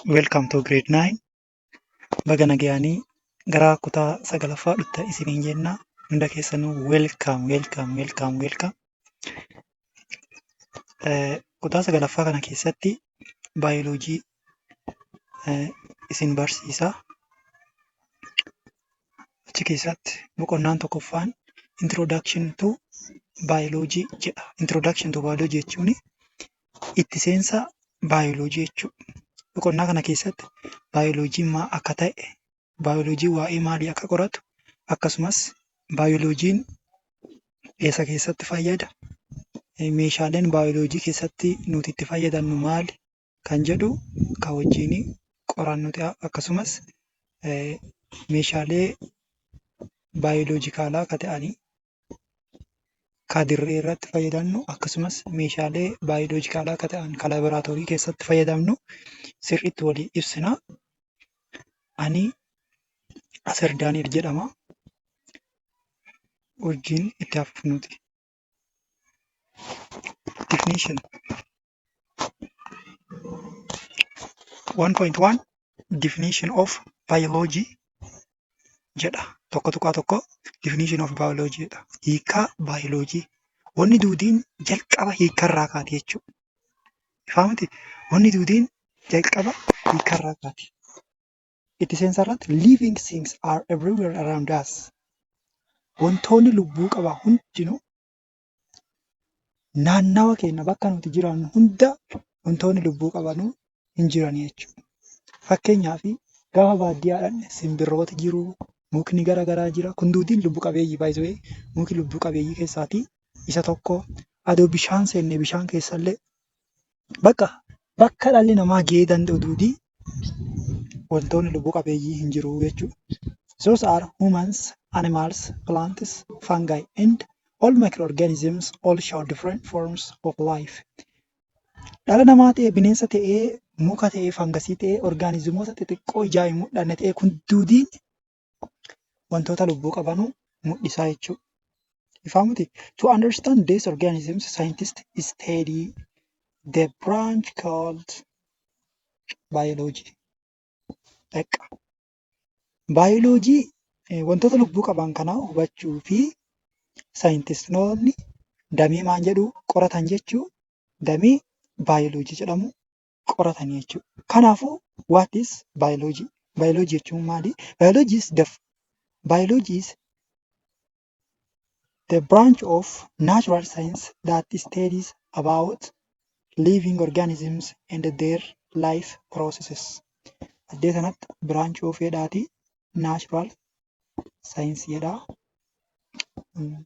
Welcome to grade 9. Baga nagayaanii gara kutaa sagalaffaa dhufta isiniin jenna. Hunda keessanuu welcome welcome welcome welcome. Eh, Kutaa sagalaffaa kana keessatti baayoloojii eh, isin barsiisa. Achi keessatti boqonnaan tokkoffaan introduction to biology jedha. Introduction to biology jechuun itti seensa baayoloojii jechuudha. Boqonnaa kana keessatti baayoloojiin maal akka ta'e, baayoloojiin waa'ee maalii akka qoratu akkasumas baayoloojiin eessa keessatti fayyada? meeshaaleen baayoloojii keessatti nuti itti fayyadamnu maali? kan jedhu kan wajjin qorannu ta'a. Akkasumas meeshaalee baayoloojikaalaa akka ta'anii... ka dirree irratti fayyadamnu akkasumas meeshaalee baayoloojikaalaa akka ta'an ka laaboraatoorii keessatti fayyadamnu sirriitti walii ibsina. Ani Asir Daani'el jedhama. Hojiin itti hafuuf nuti. Definition. 1.1 definition of biology jedha tokko tuqaa tokko definition of biology jedha hiikaa biology wanni duudiin jalqaba hiikarraa kaati jechuudha. Ifaa miti wanni duudiin jalqaba hiikarraa kaati. Itti seensa irratti living things are everywhere around us. Wantoonni lubbuu qabaa hundinuu naannawa keenya bakka nuti jiraannu hunda wantoonni lubbuu qaban hin jiran jechuudha. Fakkeenyaaf gaafa baadiyyaa dhaqne simbirrooti jiru, mukni gara garaa jira. Kun hunduu lubbu qabeeyyiidha by the way. Muki lubbu qabeeyyii keessaa isa tokko. Osoo bishaan seenne bishaan keessa illee Bakka bakka dhalli namaa gahee danda'u duudii wantoonni lubbu qabeeyyii hin jiru jechuudha. Those are humans, animals, plants, fungi and all microorganisms all show different forms of life. Dhala namaa ta'ee bineensa ta'ee muka ta'ee fangasii ta'ee orgaanizimoota xixiqqoo ijaa hin mul'anne ta'ee kun duudiin wantoota lubbuu qabanu mul'isaa jechuu. Ifaa miti? To understand these organisms, scientists study the branch called biology. Dhaqqa. Baayoloojii eh, wantoota lubbuu qaban kana hubachuu fi saayintistoonni damee maal jedhu qoratan jechuu damee baayoloojii jedhamu qoratanii jechuudha. Kanaafuu, what is biology? Biology jechuun maali? Biology is the biology is the branch of natural science that studies about living organisms and their life processes. Addee sanatti branch of jedhaati natural science jedha. Mm.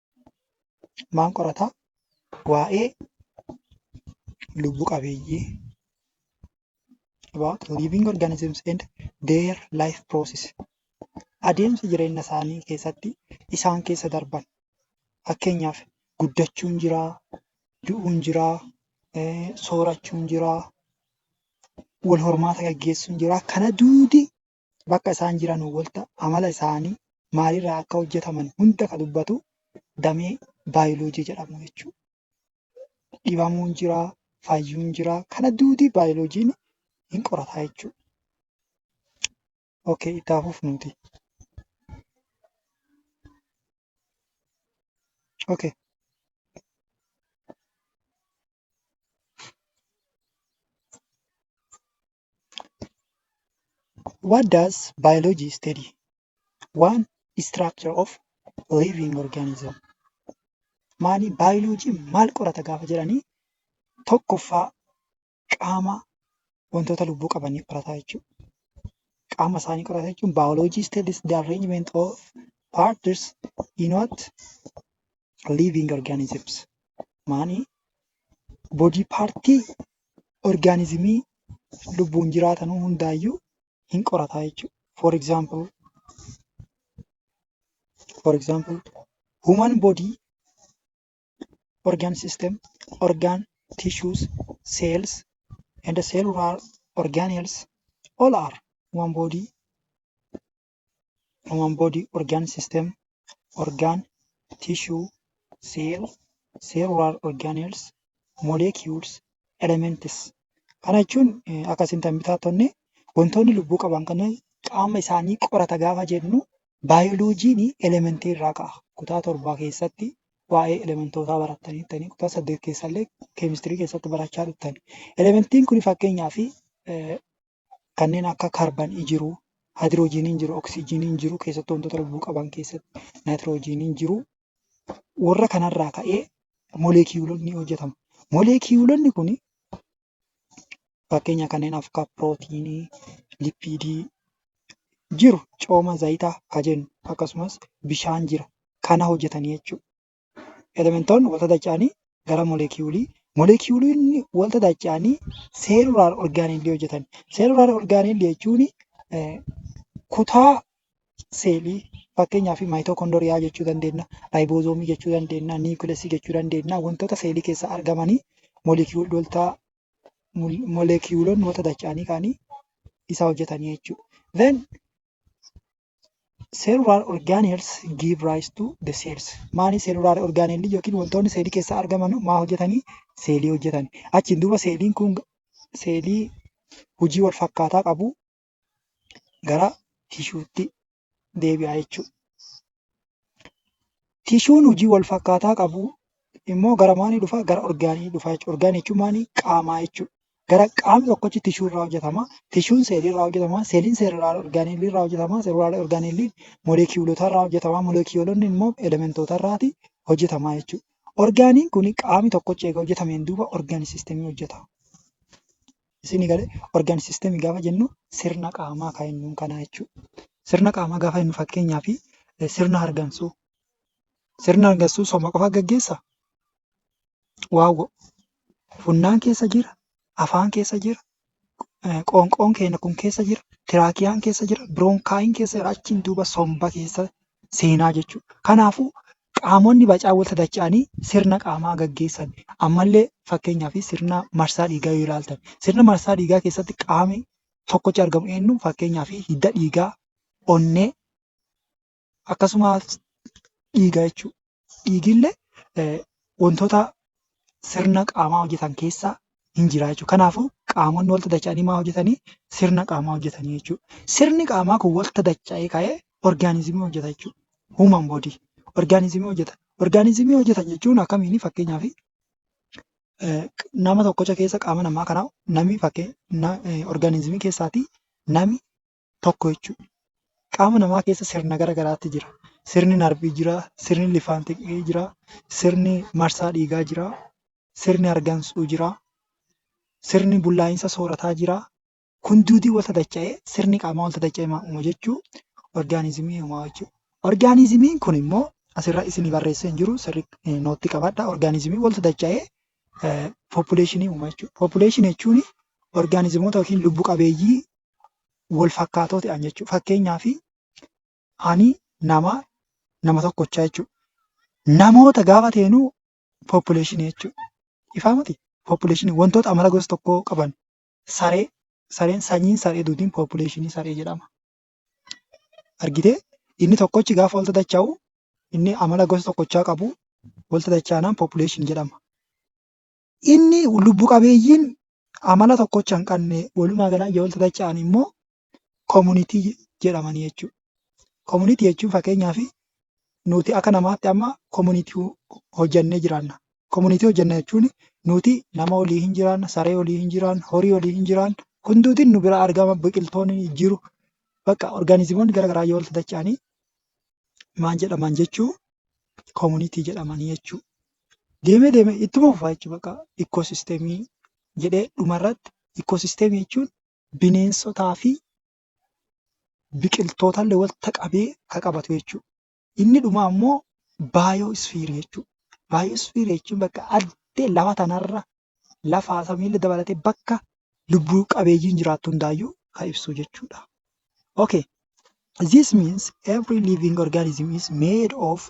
Maal qorata? Waa'ee lubbu qabeeyyii about living organisms and their life process adeemsa jireenya isaanii keessatti isaan keessa darban fakkeenyaaf guddachuun jiraa, du'uun jiraa, eh, soorachuun jiraa, wal hormaata gaggeessuun jiraa kana duudi bakka isaan jiranuu wolta amala isaanii maalirraa akka hojjetaman hunda ka dubbatu damee baayiloojii jedhamu jechuudha. Dhibamuun jiraa, fayyuun jiraa kana duudii baayiloojiin hin qorataa jechuudha. Okay, itti haa fufnuuti. Okay. What does biology study? Waan structure of living organism. Maali baayoloojiin maal qorata gaafa jedhanii tokkoffaa qaama wantoota lubbuu qabanii qorataa jechuudha. Qaama isaanii qorata jechuun baayoloojii studies the arrangement of parts in what living organisms. Maani body partii orgaanizimii lubbuun jiraatan hundaayyuu hin qorataa jechuudha. For example, for example, human body, organ system, organ tissues, cells and cellular organelles all are human body human body organ system organ tissue cell cellular organelles molecules elements kana jechuun akka isin tan bitaattonni wantoonni lubbuu qaban kana qaama isaanii qorata gaafa jennu baayoloojiin elementii irraa ka'a kutaa torbaa keessatti waa'ee elementootaa barattanii ta'anii kutaa saddeet keessallee keemistirii keessatti barachaa dhuftani elementiin kun fakkeenyaaf kanneen akka kaarbanii jiru, haayidiroojiiniin jiru, oksijiiniin jiru keessattuu wantoota lubbuu qaban keessatti naayitiroojiiniin jiru. Warra kanarraa ka'ee moleekiyuulonni hojjetamu. Moleekiyuulonni kun fakkeenya kanneen akka pirootiinii, lipiidii jiru cooma zayitaa kan jennu akkasumas bishaan jira kana hojjetanii jechuudha. elementoonni wanta dacha'anii gara molekiyuulii molekiyuuliin wanta dacha'anii seelulaar orgaaniilii hojjetan. Seelulaar orgaaniilii jechuun kutaa seelii fakkeenyaaf maayitookondoriyaa jechuu dandeenya, raayiboozomii jechuu dandeenya, niwukilasii jechuu dandeenya wantoota seelii keessa argamanii molekiyuulota molekiyuulonni wanta dacha'anii kaanii isa hojjetanii jechuudha. Then Cellular organelles give rise to the cells. Maali cellular organelli yookiin wantoonni seelii keessaa argaman maa hojjetanii? Seelii hojjetani. Achiin duuba seeliin kun seelii hojii wal fakkaataa qabu gara tishuutti deebi'a jechuudha. Tishuun hojii wal fakkaataa qabu immoo gara maalii dhufa? Gara orgaanii dhufa jechuudha. Orgaanii jechuun maali? Qaamaa jechuudha. Gara qaamni tokkochi tishuu irraa hojjetama. Tishuun seelii irraa hojjetama. Seeliin seelulaar orgaaniilii irraa hojjetama. Seelulaar orgaaniiliin molekiyuulota irraa hojjetama. Molekiyuulonni immoo elementoota irraati hojjetama jechuudha. Orgaaniin kun qaamni tokkochi eega hojjetameen duuba orgaan sistemii hojjeta. Isinii galee organ system gaafa jennu sirna qaamaa kan jennuun kanaa jechuudha. Sirna qaamaa gaafa jennu fakkeenyaaf sirna hargansuu. Sirna hargansuu sooma qofa gaggeessa? Waawwo. Funnaan keessa jira, afaan keessa jira, qoonqoon keenya kun keessa jira, tiraakiyaan keessa jira, biroonkaayiin keessa jira, achiin duuba somba keessa seenaa jechuudha. Kanaafuu Qaamonni bacaa wal sadacha'anii sirna qaamaa gaggeessan ammallee fakkeenyaaf sirna marsaa dhiigaa yoo ilaaltan sirna marsaa dhiigaa keessatti qaamni tokkochi argamu eenyu fakkeenyaaf hidda dhiigaa, onnee akkasumas dhiiga jechuudha. Dhiigillee wantoota sirna qaamaa hojjetan keessaa hin jira jechuudha. Kanaafuu qaamonni walitti dacha'anii maa hojjetanii? Sirna qaamaa hojjetanii jechuudha. Sirni qaamaa kun walitti dacha'ee ka'ee orgaanizimii hojjeta jechuudha. Human body orgaanizimii hojjeta. Orgaanizimii hojjetan jechuun akkamiini fakkeenyaaf nama tokkocha keessa qaama namaa kana nami fakkee orgaanizimii keessaati nami tokko jechuudha. Qaama namaa keessa sirna gara garaatu jira. Sirni narvii jira, sirni lifaan xiqii jira, sirni marsaa dhiigaa jira, sirni hargansuu jira, sirni bullaa'insa soorataa jira. Kun duutii wal tatacha'ee sirni qaamaa wal tatacha'ee maa uuma jechuu orgaanizimii uumaa jechuudha. Orgaanizimiin kun immoo asirra isinii barreessee hin jiru sirri nootti qabadha. Orgaanizimii wal tatacha'ee population uuma jechuudha. Population jechuun orgaanizimoota yookiin lubbu qabeeyyii wal fakkaatoo ta'an jechuudha. Fakkeenyaaf ani nama nama tokkochaa jechuudha. Namoota gaafa ta'inu population jechuudha. Ifaa miti? Population wantoota amala gosa tokkoo qaban saree sareen sanyiin saree duutiin population saree jedhama. Argitee inni tokkochi gaafa wal dacha'u inni amala gosa tokkochaa qabu wal dacha'anaan population jedhama. Inni lubbu qabeeyyiin amala tokkocha hin qabne walumaa galaan yoo walitti dacha'an immoo komunitii jedhamanii jechuudha. Komunitii jechuun fakkeenyaaf nuti akka namaatti amma komunitii hojjannee jiraanna. Komunitii hojjanna jechuun nuti nama olii hin jiraanna, saree olii hin jiraanna, horii olii hin jiraanna. Hundumti nu bira argama biqiltoonni jiru. Bakka orgaanizimoonni gara garaa yoo walitti dacha'anii maal jedhaman jechuu komunitii jedhamanii jechuu. deemee deemee ittuma fufaa jechuudha bakka ikkoosisteemii jedhee dhumarratti ikkoosisteemii jechuun bineensotaa fi biqiltootaallee walitti qabee kan qabatu jechuudha. Inni dhumaa immoo baayoo isfiirii jechuudha. Baayoo isfiirii jechuun bakka ardii lafa kanarra lafaa fi samiillee dabalatee bakka lubbu qabeeyyiin jiraattu hundaayyuu kan ibsu jechuudha. Okay this means every living organism is made of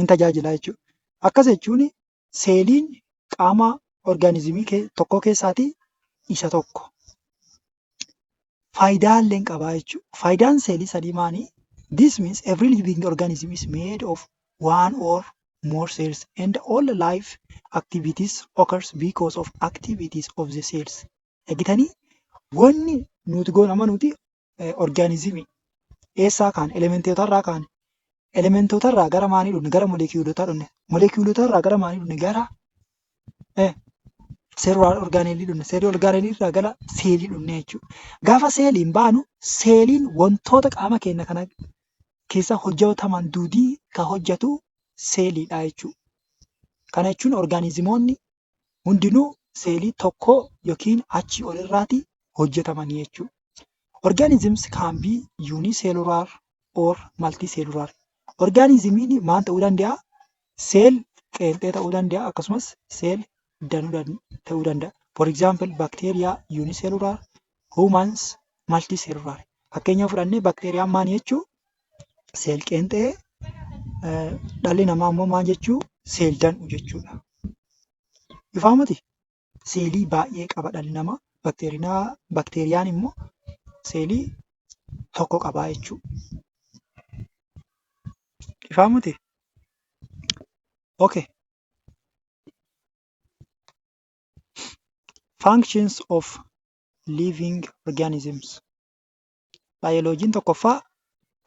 hin tajaajila jechuudha. Akkas jechuun seeliin qaama orgaanizimii kee- tokkoo keessaatii isa tokko. Faayidaa illee hin qabaa jechuudha. Faayidaan seelii sadii maanii? This means every living organism is made of one or more cells and all life activities occurs because of activities of the cells. Dhagitanii? Wanni nuti goonu amma nuti orgaanizimii eessaa kaane elementootarraa kaane elementootarraa gara maalii dhufne gara molekiyuulotaa dhufne molekiyuulotarraa gara maalii dhufne gara seerwaal orgaaneelii dhufne seerii orgaaneeliirraa gara seelii dhufne jechuudha. Gaafa seeliin baanu seeliin wantoota qaama keenya kana keessa hojjetaman duudii kan hojjetu seeliidha jechuudha. Kana jechuun orgaanizimoonni hundinuu seelii tokkoo yookiin achii ol irraati hojjetamanii jechuu. Organisms can be unicellular or multicellular. Orgaanizimiin maal ta'uu danda'a? Seel qeenxee ta'uu danda'a akkasumas seel danuu ta'uu danda'a. For example, bacteria unicellular, humans multicellular fakkeenya fudhannee bakteeriyaan maal jechuu seel qeenxee dhalli namaa immoo maal jechuu seel dan'u jechuudha. Ifaa miti seelii baay'ee qaba dhalli namaa bakteeriyaan immoo seelii tokko qabaa jechuudha. Ifaa miti? Okay. Functions of living organisms. Baayoloojiin tokkoffaa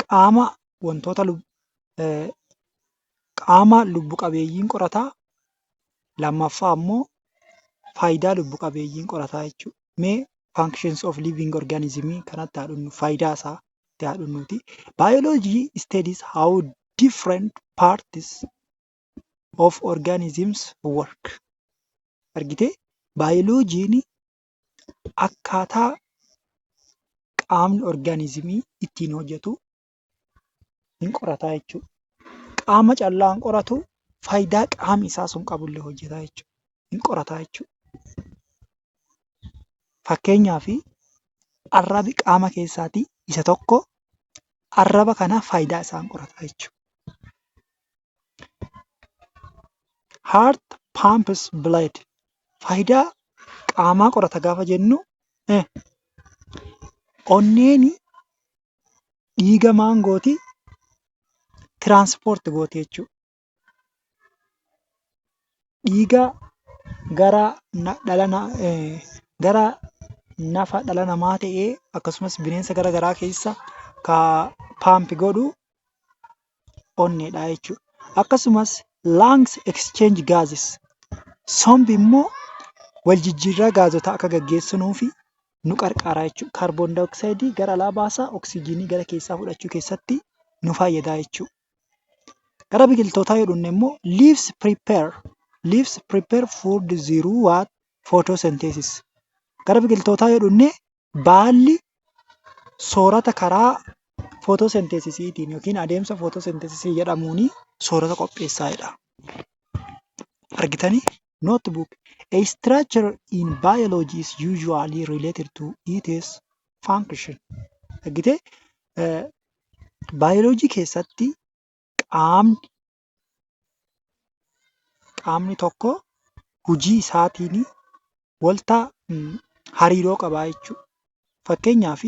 qaama wantoota qaama lubbu qabeeyyiin qorata. Lammaffaa immoo faayidaa lubbu qabeeyyiin qorata jechuudha. Mee functions of living organism kanatti haa dhufnu. Faayidaa isaa tti haa dhufnuutii. Biology studies how different parts of organisms work. Argitee? Baayoloojiin akkaataa qaamni organism ittiin hojjetu ni qorata jechuudha. Qaama callaa hin qoratuu, faayidaa qaamni isaa sun qabu illee hojjeta jechuudha, ni qorata jechuudha. Fakkeenyaaf, arrabi qaama keessaa isa tokko, arraba kana faayidaa isaa hin qoratu jechuudha. heart pumps blood faayidaa qaamaa qorata gaafa jennu eh, onneeni dhiiga maangooti tiraanspoorti gooti jechuudha. Dhiiga gara na- dhala na- eh, gara nafa dhala namaa ta'ee akkasumas bineensa gara garaa keessa ka paampi godhu onneedha jechuudha. Akkasumas lungs exchange gases sombi immoo wal jijjiirraa gaazotaa akka gaggeessu nuufi nu qarqaara jechuudha. Kaarboon daayooksaayidii gara alaa baasaa oksijiinii gara keessaa fudhachuu keessatti nu fayyada jechuudha. Gara biqiltootaa yoo dhufne immoo leaves prepare leaves prepare food through what photosynthesis gara biqiltootaa yoo dhufne Baalli soorata karaa footoosenteesisiitiin yookiin adeemsa footoosenteesisii jedhamuun soorata qopheessaa jedha. Argitanii? Notebook. A structure in biology is usually related to its function. Argitee? Baayoloojii keessatti qaamni qaamni tokko hojii isaatiin wanta hariiroo qabaa jechuudha. Fakkeenyaaf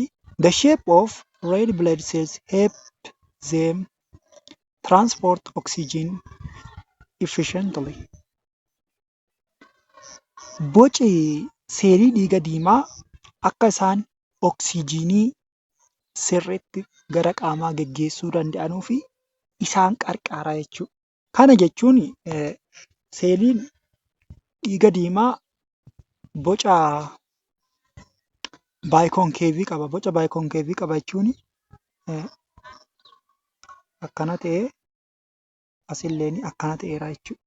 the shape of red blood cells help them transport oxygen efficiently. Boci seelii dhiiga diimaa akka isaan oksijiinii sirriitti gara qaamaa geggeessuu danda'anuuf isaan qarqaara jechuudha. Kana jechuun seeliin dhiiga diimaa boca baayikoonkeevii qaba. Boca baayikoonkeevii qaba jechuun akkana ta'ee asilleen akkana ta'eera jechuudha.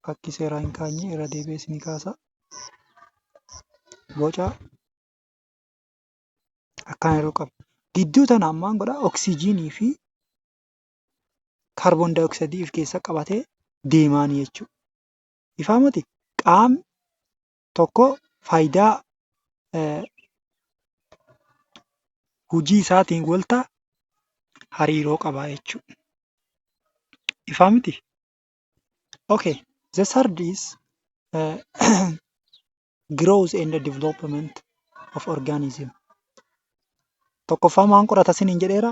fakkii seeraa hin kaanye irra deebi'ee isinii kaasa. Boca akkaan yeroo qabu. Gidduu tana ammaan godha oksijiinii fi kaarboon daayoksaayidii of keessa qabatee deemaanii jechuudha. Ifaamati qaamni tokko faayidaa hojii isaatiin wanta hariiroo qaba jechuudha. Ifaa miti? Okay. The third is uh, growth and development of organism. Tokkoffaa maan qorata siniin jedheera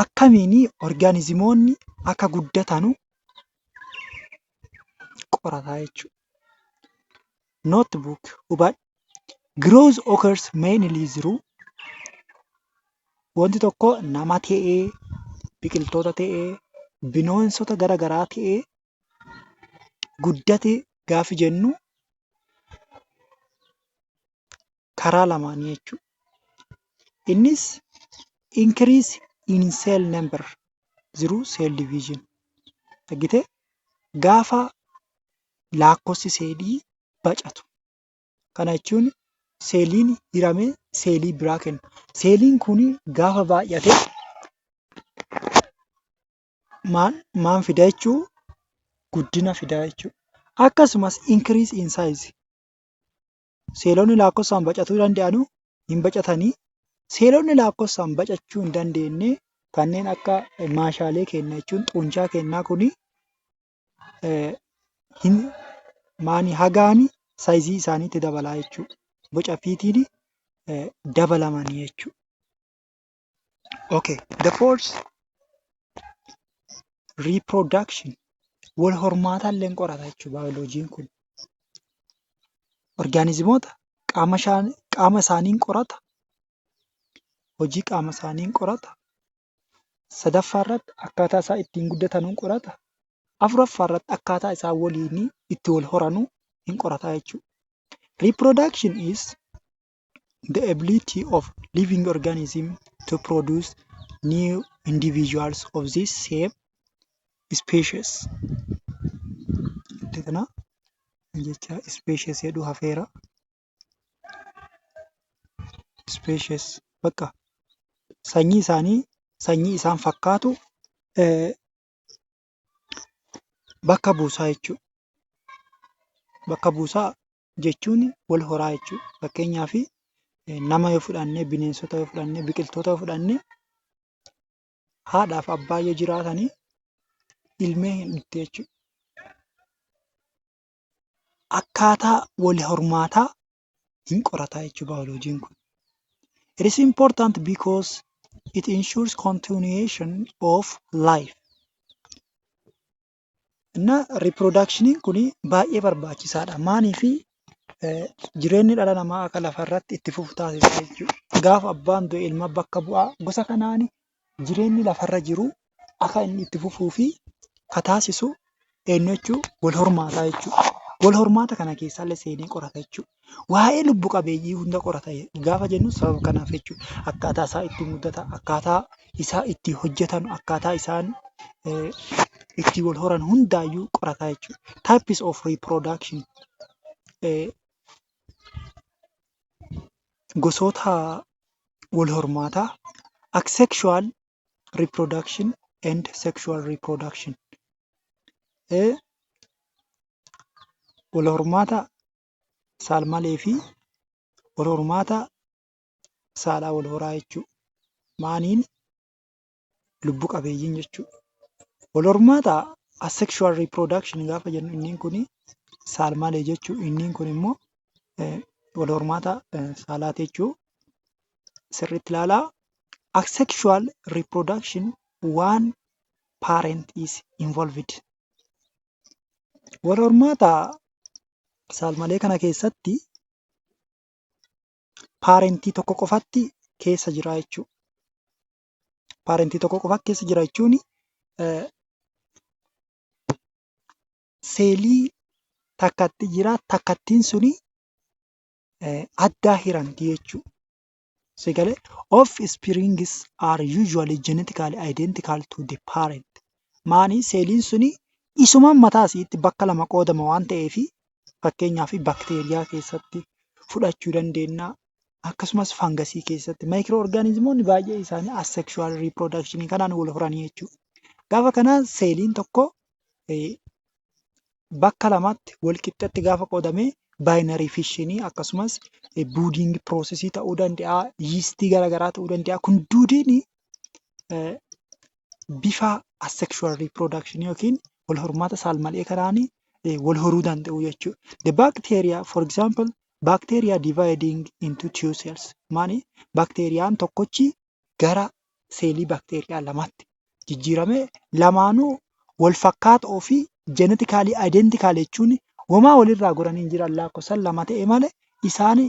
akkamiin orgaanizimoonni akka guddatan qorata jechuudha. Note book hubadhu growth occurs mainly through wanti tokko nama ta'ee, biqiltoota ta'ee, bineensota gara garaa ta'ee guddate gaafa jennu... karaa lamaanii jechuudha. Innis increase in cell number jiruu cell division argite gaafa laakkofsi seelii bacatu kana jechuun seeliin hiramee seelii biraa kenna. Seeliin kun gaafa baay'ate maal fida jechuu guddina fida jechuudha. Akkasumas increase in size Seelonni laakkofsaan bacatuu danda'anu hin bacatanii. Seelonni laakkofsaan bacachuu hin dandeenye kanneen akka maashaalee keenya jechuun xuunchaa keenyaa kuni hin maani hagaani saayizii isaaniitti dabalaa jechuudha. Boca fiitiin dabalamanii jechuudha. Okay, the force reproduction wal hormaataa illee hin qorata jechuudha baayoloojiin kun. Orgaanizimoota qaama ishaan- qaama isaanii hin qorata, hojii qaama isaanii hin qorata, sadaffaa irratti akkaataa isaan ittiin guddatan hin qorata, afuraffaa irratti akkaataa isaan waliin itti wal horanuu hin qorata jechuudha. Reproduction is the ability of living organism to produce new individuals of this same species jecha kana jecha species jedhu hafeera species bakka sanyii isaanii sanyii isaan fakkaatu eh, bakka buusaa jechuudha bakka buusaa jechuun wal horaa jechuu dha. Fakkeenyaaf, nama yoo fudhanne, bineensota yoo fudhanne, biqiltoota yoo fudhanne haadhaa fi abbaa yoo jiraatan ilmeen hin dhuftu jechuu dha. Akkaataa wal hormaataa hin qorata jechuudha baayolojiin kun. It is important because it ensures continuation of life. Innaa riippiroodaakshinii kun baay'ee barbaachisaadha. Maaliif jireenyi dhala namaa akka lafarratti itti fufu taasisa jechuudha. Gaafa abbaan du'e ilma bakka bu'a. Gosa kanaan jireenyi lafarra jiru akka inni itti fufuu fi ka taasisu eenyu jechuu wal hormaata jechuudha. Wal hormaata kana keessallee seenee qorata jechuudha. Waa'ee lubbu qabeeyyii hunda qorata gaafa jennu sababa kanaaf jechuudha. Akkaataa isaa itti muudata, akkaataa isaa itti hojjetan, akkaataa isaan itti wal horan hundaayyuu qorata jechuudha. Types of reproduction Gosoota wal hormaataa Asexual reproduction and sexual reproduction Wal hormaata saalmalee fi wal hormaata saalaa wal horaa jechuudha. Maaniin lubbu qabeeyyiin jechuudha. Wal hormaata asexual reproduction gaafa jennu inniin kun saalmalee jechuu inniin kun immoo wal hormaata saalaa jechuu sirriitti ilaalaa. Asexual reproduction waan parent is involved. Wal hormaata saalmalee kana keessatti paarentii tokko qofatti keessa jira jechuudha. Paarentii tokko qofatti keessa jira jechuun seelii takkatti jira takkattiin suni addaa hiranti jechuudha. Si galee? Offsprings are usually genetically identical to the parent. Maani seeliin suni isuma mataa isiitti bakka lama qoodama waan ta'eef fakkeenyaaf bakteeriyaa keessatti fudhachuu dandeenya. Akkasumas fangasii keessatti maayikiroo orgaanizimoonni baay'ee isaanii asexual reproduction kanaan wal horanii jechuudha. Gaafa kana seeliin tokko eh, bakka lamatti wal qixxatti gaafa qoodame baayinarii fishinii akkasumas buudiingi piroosesii ta'uu danda'a, yiistii gara garaa ta'uu danda'a. Kun duudiin bifa asexual reproduction yookiin wal hormaata saalmal'ee kanaan wal horuu danda'u jechuudha. The bacteria for example bacteria dividing into two cells maani bakteeriyaan tokkochi gara seelii bakteeriyaa lamaatti jijjiirame lamaanuu wal fakkaatoo fi jenetikaalii ayidentikaalii jechuun homaa walirraa goranii hin jiran lakkoofsan lama ta'e malee isaan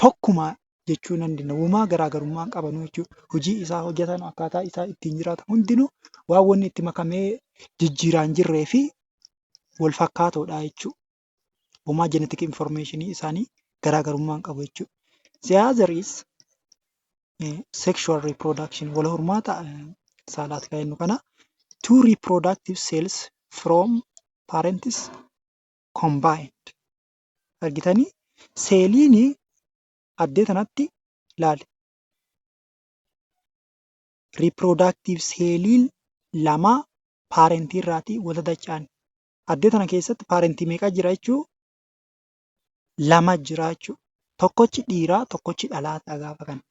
tokkuma jechuu nan danda'a. Homaa garaagarummaa hin qabanu jechuudha. Hojii isaa hojjetan akkaataa isaa ittiin jiraatan hundinuu waan wanni itti makamee jijjiiraan jirree fi wal fakkaatoodha jechuudha. Homaa jenetik informeeshinii isaanii garaagarummaa hin qabu jechuudha. The other is eh, sexual reproduction wal hormaata eh, saalaati kan jennu kana two reproductive cells from parents combined argitanii seeliin addee tanatti laali reproductive seeliin lama paarentii irraatii wal dadacha'an Addee tana keessatti paarentii meeqa jira jechuu? Lama jira jechuu. Tokkochi dhiiraa, tokkochi dhalaa ta'a gaafa kana.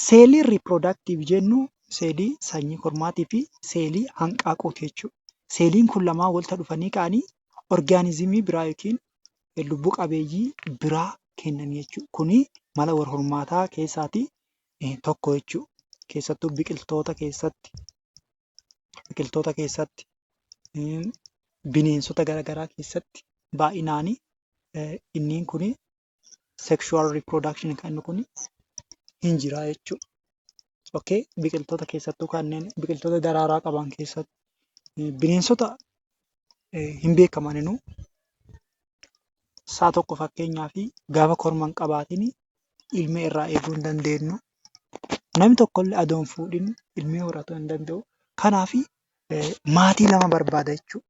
Seelii riipiroodaaktiiv jennu seelii sanyii kormaatii fi seelii hanqaaquuti jechuudha. Seeliin kun lamaan walta dhufanii ka'anii orgaanizimii biraa yookiin lubbuu qabeeyyii biraa kennan jechuudha. Kuni mala wal hormaataa keessaati tokko jechuudha. Keessattuu biqiltoota keessatti biqiltoota keessatti, bineensota gara garaa keessatti baay'inaani inni kuni sexual reproduction kan inni kuni hin jira jechuu dha. Okay? Biqiltoota keessattuu kanneen biqiltoota daraaraa qaban keessatti bineensota hin beekamaninu sa'a tokko fakkeenyaa fi gaafa korma hin qabaatin ilmee irraa eeguu hin dandeennu. Namni tokko illee osoo hin fuudhiin ilmee horachuu hin danda'u. Kanaaf maatii lama barbaada jechuudha.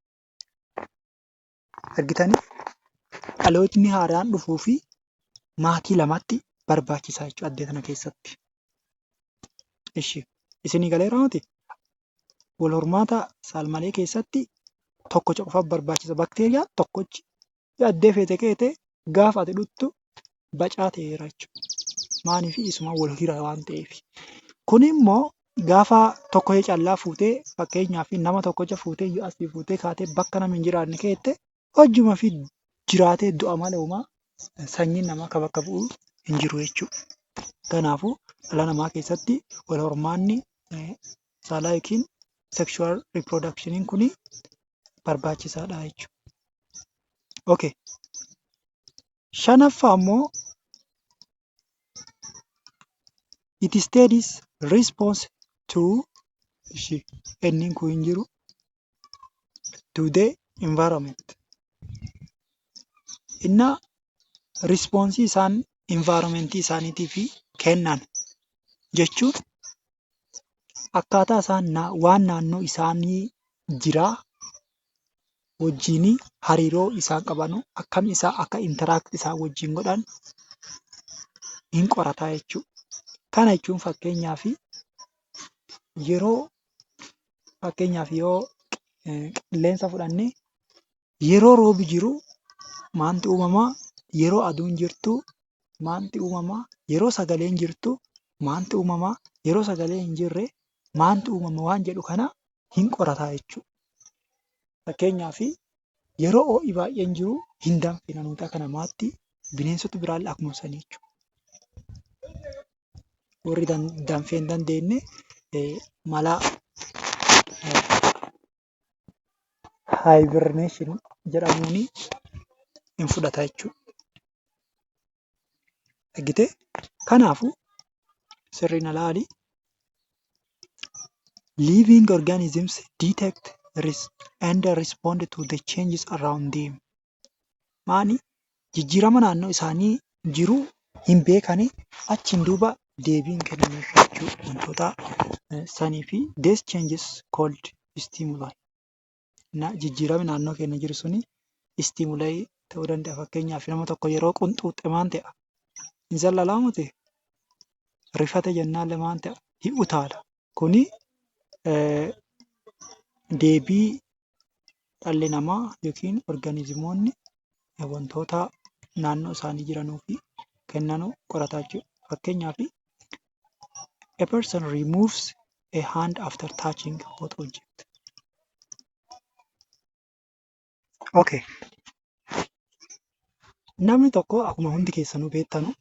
Dhalootni haaraan dhufuu fi maatii lamatu barbaachisa jechuudha addunyaa kana keessatti. Wal hormaata saalmalee keessatti tokko qofatu barbaachisa. Yoo addee feete keete gaafa ati dhuttu bacaa ta'eera jechuudha. Maaliif isumaan wal hira waan ta'eef. Kun immoo gaafa tokko callaa fuutee fakkeenyaaf nama tokkocha fuutee yoo asii fuutee kaatee bakka nama hin jiraanne keette hojjuma fi jiraatee du'a malee uumaa sanyiin namaa akka bakka bu'u hin jiru jechuudha. Kanaafuu dhala namaa keessatti wal hormaanni saalaa yookiin sexual reproductioniin kun barbaachisaadha jechuudha. Okay. Shanaffaa immoo it studies response to ishii enniin kun hin jiru to the environment inna response isaan environment isaaniitiif kennan jechuun akkaataa isaan waan naannoo isaanii jiraa wajjin hariiroo isaan qaban akkam isaa akka interact isaan wajjin godhan hin qorataa jechuudha. Kana jechuun fakkeenyaaf yeroo fakkeenyaaf yoo qilleensa fudhanne yeroo roobi jiru maaltu uumama? Yeroo aduun jirtu maaltu uumama? Yeroo sagaleen jirtu maaltu uumama? Yeroo sagaleen hin jirre maaltu uumama? Waan jedhu kana hin qorata jechuudha. Fakkeenyaaf yeroo ho'i baay'een jiru hin danfina nuti akka namaatti bineensoti biraallee akkuma sanii jechuudha. warri danfee hin dandeenye mala hibernation jedhamuun hin fudhata jechuudha. Argitee? Kanaafuu sirrii na laali. Living organisms detect res and respond to the changes around them. maali jijjiirama naannoo isaanii jiru hin beekani. Achiin duuba deebiin kennameef jechuu dha. Wantoota sanii fi these changes called stimuli na jijjiirami naannoo keenya jiru suni stimuli ta'uu danda'a. Fakkeenyaaf nama tokko yeroo qunxuuxxe maan ta'a? Hin zallalaa moti? Rifate jennaalle maan ta'a? Hin utaala. Kuni deebii Dhalli namaa yookiin organizimoonni wantoota naannoo isaanii jiranuufi kennanu qorataa jechuudha. Fakkeenyaaf, a person removes a hand after touching a hot object. ok Namni tokko akkuma hundi keessanuu beektanu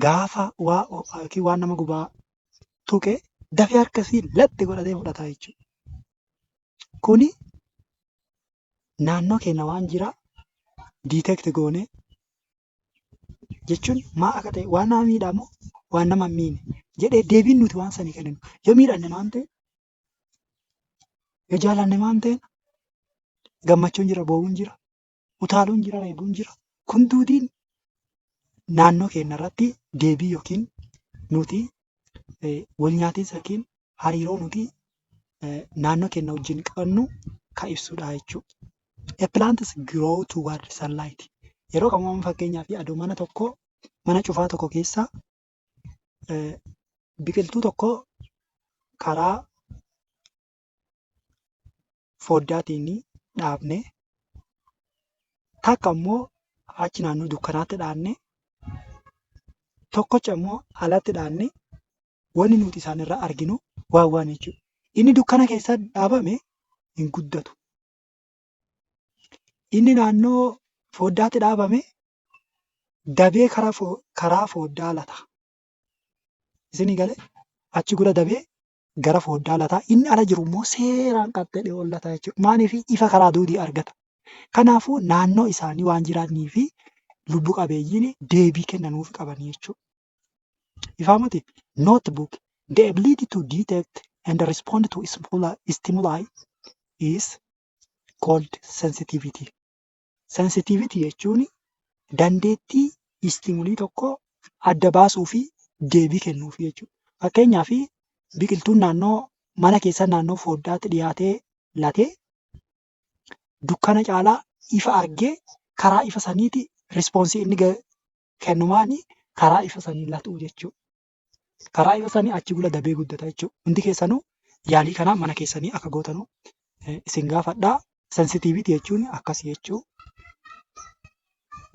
gaafa waa ho'aa yookiin waan nama gubaa tuqe dafee harka isii laxxi godhatee fudhataa jechuudha. Kuni naannoo keenya waan jiraa detect goonee jechuun maa akka ta'e waan nama miidhaa moo waan nama hin miine jedhee deebiin nuti waan sanii kenninu yoo miidhanne maal ta'e yoo jaalanne maal ta'e gammachuun jira boo'uun jira utaaluun jira reebuun jira kun duudiin naannoo keenya irratti deebii yookiin nuti wal nyaatinsa yookiin hariiroo nuti naannoo keenya wajjin qabnu kan ibsudha jechuudha. A plant is grow toward sunlight. Yeroo qabaman fakkeenyaa fi aduu mana tokko mana cufaa tokko keessa biqiltuu tokko karaa foddaatiin dhaabne takka immoo achi naannoo dukkanaatti dhaanne tokkocha immoo alatti dhaanne wanni nuti isaan irraa arginu waan waan jechuudha. Inni dukkana keessa dhaabame hin guddatu. Inni naannoo foddaatti dhaabame dabee karaa fo- karaa foddaa lata. Isin gale achi gura dabee gara fooddaa lata, inni ala jiru immoo seeraan qaxxedhee ol lata jechuudha. Maaliif ifa karaa duudii argata. Kanaafuu naannoo isaanii waan jiraatnii fi lubbu qabeeyyiin deebii kennanuuf qaban jechuudha. Ifaa miti? Notebook, the ability to detect and respond to stimuli is called sensitivity. Sensitivity jechuun dandeettii istimulii tokko adda baasuu fi deebii kennuuf jechuudha. Fakkeenyaaf biqiltuun naannoo mana keessa naannoo fooddaatti dhiyaatee latee dukkana caalaa ifa argee karaa ifa saniiti rispoonsii inni kennumaani karaa ifa sanii latuu jechuudha. karaa yoo sani achi gula dabee guddata jechuudha. Hundi keessanuu yaalii kanaa mana keessanii akka gootanuu eh, isin gaafadhaa. Sensitiiviti jechuun akkas jechuu.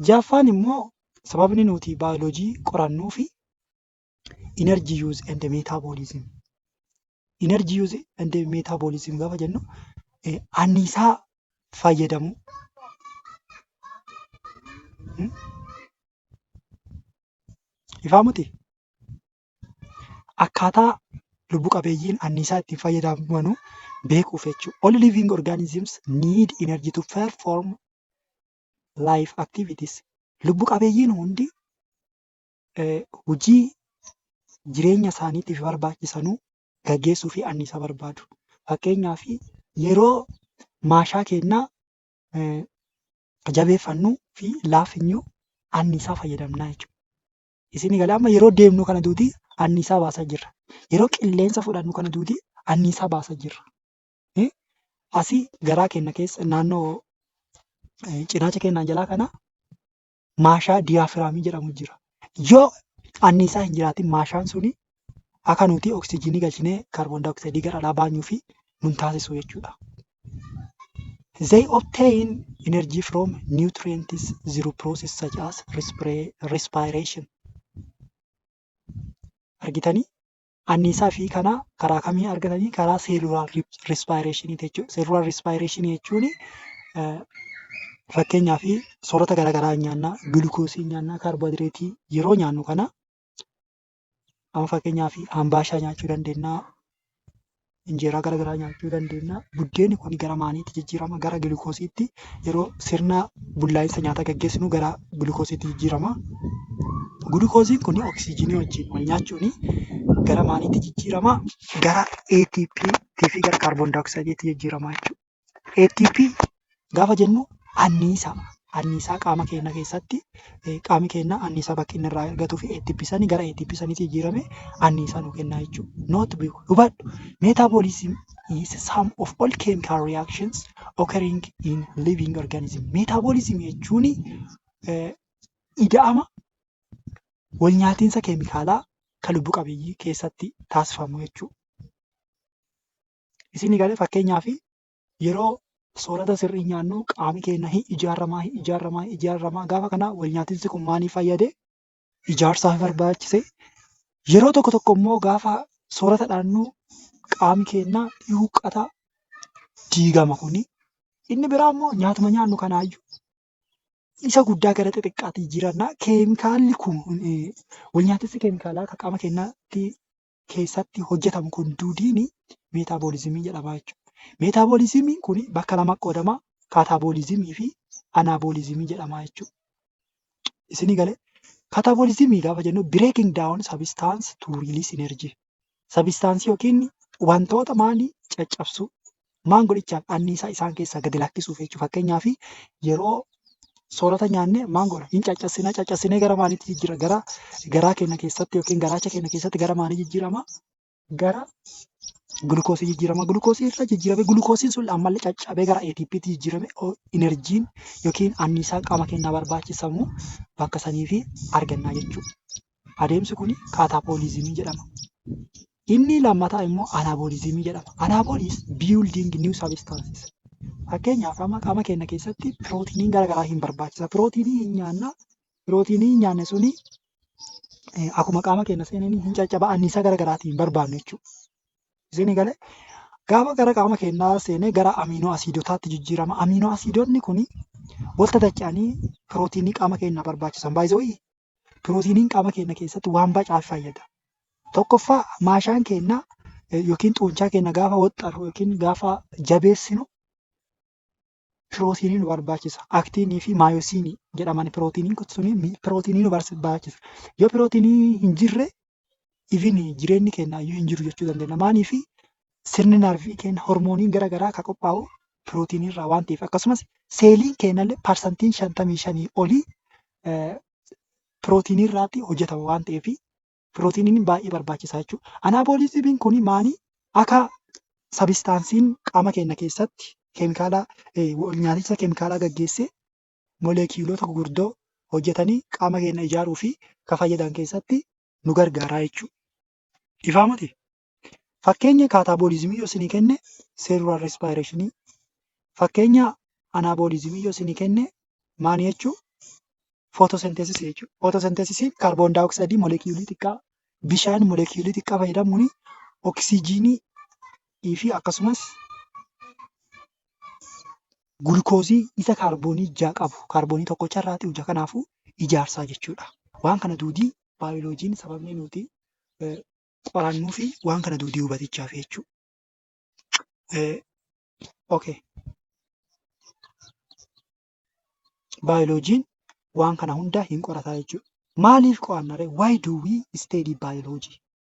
Jaffaan immoo sababni nuti baayoloojii qorannuu fi energy use and metabolism. Energy use and metabolism gaafa jennu eh, anniisaa fayyadamuu. Hmm? Ifaa miti? Akkaataa lubbu qabeeyyiin anniisaa ittiin fayyadamanu beekuuf jechuudha. All living organisms need energy to perform life activities. Lubbu qabeeyyiin hundi eh, hojii jireenya isaaniitiif barbaachisanuu gaggeessuu fi anniisaa barbaadu. Fakkeenyaaf yeroo maashaa keennaa eh, jabeeffannu fi laafinyu anniisaa fayyadamnaa jechuudha. Isin gala amma yeroo deemnu kana duuti anniisaa baasaa jirra. Yeroo qilleensa fudhannu kana duuti anniisaa baasaa jirra. Eh, Asii garaa keenya keessa naannoo eh, cinaacha keenyaa jalaa kana maashaa diyaafiraamii jedhamu jira. Yoo anniisaa hin jiraatin maashaan suni akka nuti oksijiinii galchinee kaarboon daayooksaayidii gara alaa baanyuu fi nun taasisu jechuudha. They obtain energy from nutrients through process such as respira- respiration. Argitanii? Anniisaa fi kana karaa kamii argatanii? Karaa cellular respiration jechuudha. Cellular respiration jechuun eh, fakkeenyaaf soorata garaagaraa nyaanna, gulukoosii nyaanna, kaarboohayidireetii yeroo nyaannu kana Amma fakkeenyaaf hambaashaa nyaachuu dandeenya. Injeeraa gara garaa nyaachuu dandeenya. Buddeenni kun gara maaliitti jijjiirama? Gara gilikoosiitti yeroo sirna bullaa'insa nyaataa gaggeessinu gara gilikoosiitti jijjiirama. Gilikoosiin kun oksijiinii wajjin wal nyaachuun gara maaliitti jijjiirama? Gara ATP fi gara kaarboon daayoksaayidiitti jijjiirama jechuudha. ATP gaafa jennu anniisa anniisaa qaama keenya keessatti eh, qaami keenya anniisaa bakki inni irraa argatuu fi ATP sanii gara ATP saniitti jijjiirame anniisaa nu kennaa jechuudha. Not be hubadhu. Metabolism is sum of all chemical reactions occurring in living organism. Metabolism jechuun eh, ida'ama wal nyaatinsa keemikaalaa kan lubbu qabeeyyii keessatti taasifamu jechuudha. Isin galee fakkeenyaaf yeroo soorata sirrii nyaannu qaami keenya hin ijaaramaa hin ijaaramaa hin ijaaramaa gaafa kana wal nyaatinsi kun maaliif fayyade ijaarsaaf barbaachise yeroo tokko tokko immoo gaafa soorata dhaannu qaami keenya ni huqqata diigama kuni inni biraa immoo nyaatuma nyaannu kanaayyuu isa guddaa gara xixiqqaatti jijjiiranna keemikaalli kun wal nyaatinsi keemikaalaa akka qaama keenyaatti keessatti hojjetamu kun duudiin meetaaboolizimii jedhama jechuudha. Meetaaboolizimiin kun bakka lama qoodama kaataaboolizimii fi anaaboolizimii jedhama jechuudha. Isinii galee kaataaboolizimii gaafa jennu breaking down substance to release energy. Substance yookiin wantoota maalii caccabsuu Maan godhichaaf anniisaa isaan keessaa gadi lakkisuuf jechuudha. Fakkeenyaaf yeroo soorata nyaanne maan goona hin caccassina caccassinee gara maaliitti jijjiira gara garaa keenya keessatti yookiin garaacha keenya keessatti gara maalii jijjiirama gara gulukoosii jijjiirama gulukoosii irra jijjiirame gulukoosiin sun ammallee caccabee gara ATPtti jijjiirame inerjiin yookiin anniisaa qaama keenyaa barbaachisamu bakka saniifi argannaa jechuudha. Adeemsi kun kaataabooliizimii jedhama. Inni lammataa immoo anaabooliizimii jedhama. Anaabooliis building new substances. Fakkeenyaaf amma qaama keenya keessatti pirootiiniin garaagaraa hin barbaachisa. Pirootiinii hin nyaanna. Pirootiinii hin nyaanne suni eh, akkuma qaama keenya seenanii hin caccaba anniisaa garaagaraatiin hin barbaannu jechuudha. Isin galee gaafa gara qaama keenyaa seenee gara amiinoo asiidotaatti jijjiirama. Amiinoo asiidonni kun walta dacha'anii pirootiinii qaama keenyaa barbaachisan. Baay'ee Pirootiiniin qaama keenya keessatti waan baay'eef fayyada. Tokkoffaa maashaan keenya yookiin xuunchaa keenya gaafa waxxarru yookiin gaafa jabeessinu pirootiinii nu barbaachisa. Aktiinii fi maayosiinii jedhaman pirootiiniin kun suni pirootiinii nu barbaachisa. Yoo pirootiinii hin jirre even jireenyi keenya iyyuu hin jiru jechuu dandeenya. Maaliif sirni narvii keenya hormooniin gara garaa kan qophaa'u pirootiinii irraa waan ta'eef akkasumas seeliin keenya illee parsantiin shantamii shanii olii pirootiinii irraatti hojjetama waan ta'eef pirootiiniin baay'ee barbaachisaa jechuudha. Anaabooliizimiin kun maali? Akka sabistaansiin qaama keenya keessatti keemikaala nyaaticha keemikaalaa gaggeessee molekiyuulota gugurdoo hojjatanii qaama keenna ijaaruu fi ka fayyadan keessatti nu gargaaraa jechuudha. Ifaa moti? Fakkeenya kaataabooliizimii yoo isinii kenne seerular respireeshinii, fakkeenya anaabooliizimii yoo isinii kenne maani jechuu? Footoosenteesisii jechuudha. Footoosenteesisiin kaarboon daayoksaayidii molekiyuulii xiqqaa, bishaan molekiyuulii xiqqaa fayyadamuun oksijiinii fi akkasumas gulukoozii isa kaarboonii ijaa qabu kaarboonii tokko carraati ija kanaafuu ijaarsaa jechuudha. Waan kana duudii baayoloojiin sababni nuti qorannuu fi waan kana duudii hubatichaa fi jechuudha. Okay. Baayoloojiin waan kana hundaa hin qorataa jechuudha. Maaliif qo'annaree? Why do we study biology?